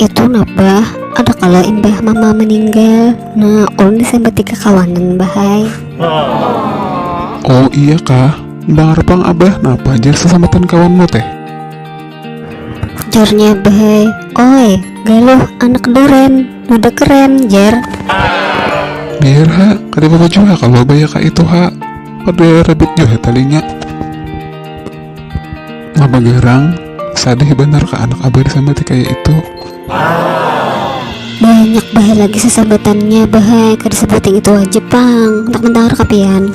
itu napa ada kalau imbah mama meninggal nah ulun disambat tiga kawanan bahai oh iya kah bangar pang abah napa jar sesambatan kawanmu teh jarnya bahai oi galuh anak duren muda keren jar biar ha kada apa-apa jua kalau abah ya kak itu ha kada rabit jua talinya Mama garang, sadih banar ka anak abah disambati kaya itu. Banyak bah lagi sasambatannya bah ai, kada sabuting itu haja pang, handak mandangar ka pian.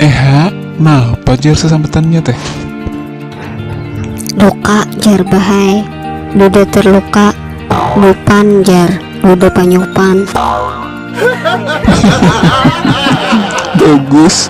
Eha, napa jar sasambatannya teh? Luka jar bah ai, duda terluka, lupan jar, duda panyupan. Bagus.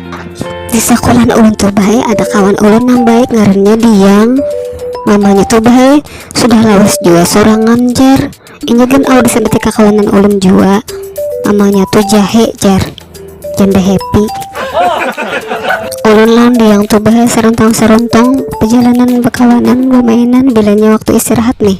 di sekolah ulun tuh bahai ada kawan ulun yang baik ngarannya Diang mamanya tuh bahai sudah lawas jua seorang ngamjar ini kan awal bisa berarti kakawanan ulun jua mamanya tuh jahe jar janda happy ulun lawan Diang tuh bahai serontong-serontong perjalanan berkawanan bermainan bilanya waktu istirahat nih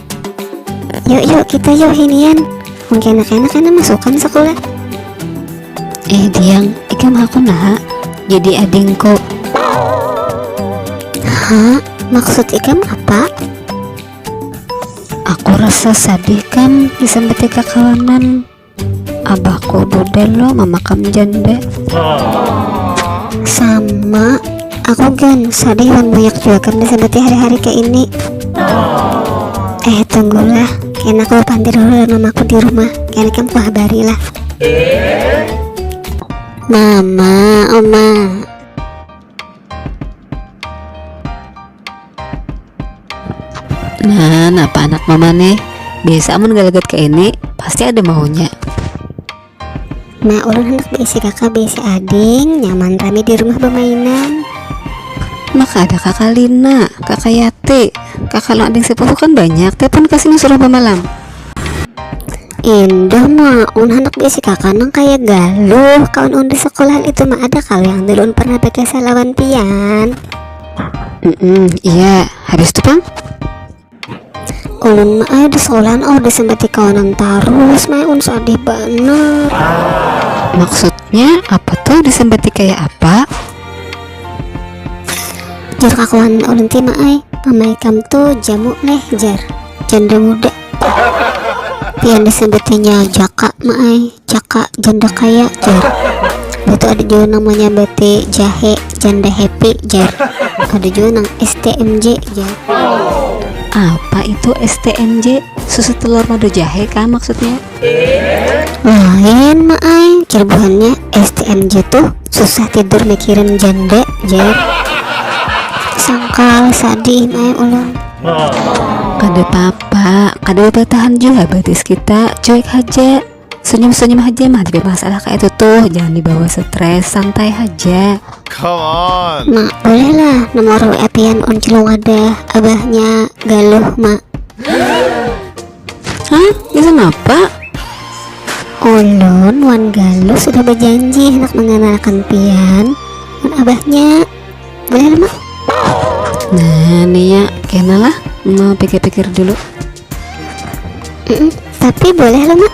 yuk yuk kita yuk hinian mungkin anak-anak enak masukkan sekolah eh diang ikam aku nah jadi adingku ha maksud ikam apa aku rasa sedih kan disambat kakawanan abahku bude lo mamakam jande sama aku gan sadih wan banyak jua gan disebati hari-hari kayak ini eh tunggulah kena aku pandir dulu dan mamaku di rumah kena kamu ku habari lah mama oma Nah, napa anak mama nih? Biasa amun galagat ke ini, pasti ada maunya. Nah, ulun hendak diisi kakak biasa ading, nyaman rame di rumah bermainan. Maka ada kakak Lina, kakak Yati, kakak lo ading sepupu kan banyak, telepon kasihnya suruh pemalam. Indah mah, un hendak diisi kakak nang kayak galuh, kawan un di sekolahan itu mah ada kali yang dulu un pernah pakai salawan pian. mm -mm, iya habis itu pang ulun ayo di sekolahan oh udah sampai tiga orang terus mah un sedih banget maksudnya apa tuh di sampai tiga ya apa jar kakuan ulun tima ay pamaikam tuh jamu leh jar janda muda Pian disebutnya jaka maai jaka janda kaya jar itu ada juga namanya bete jahe janda happy jar ada juga nang STMJ jar apa itu STMJ susu telur madu jahe kah maksudnya lain maai jar buhannya STMJ tuh susah tidur mikirin janda jar sangkal sadih maai ulun Kada papa, kada batahan jua batis kita, cuek haja. Senyum-senyum haja mah ada masalah kayak itu tuh, jangan dibawa stres, santai haja. Come on. Mak, boleh lah nomor WA pian uncil wadah abahnya Galuh, Mak. Hah? Bisa napa? Ulun wan Galuh sudah berjanji hendak mengenalkan pian wan abahnya. Boleh mah? Nah, Nia, kenalah. Mau pikir-pikir dulu. Mm -mm, tapi boleh lah, Mak.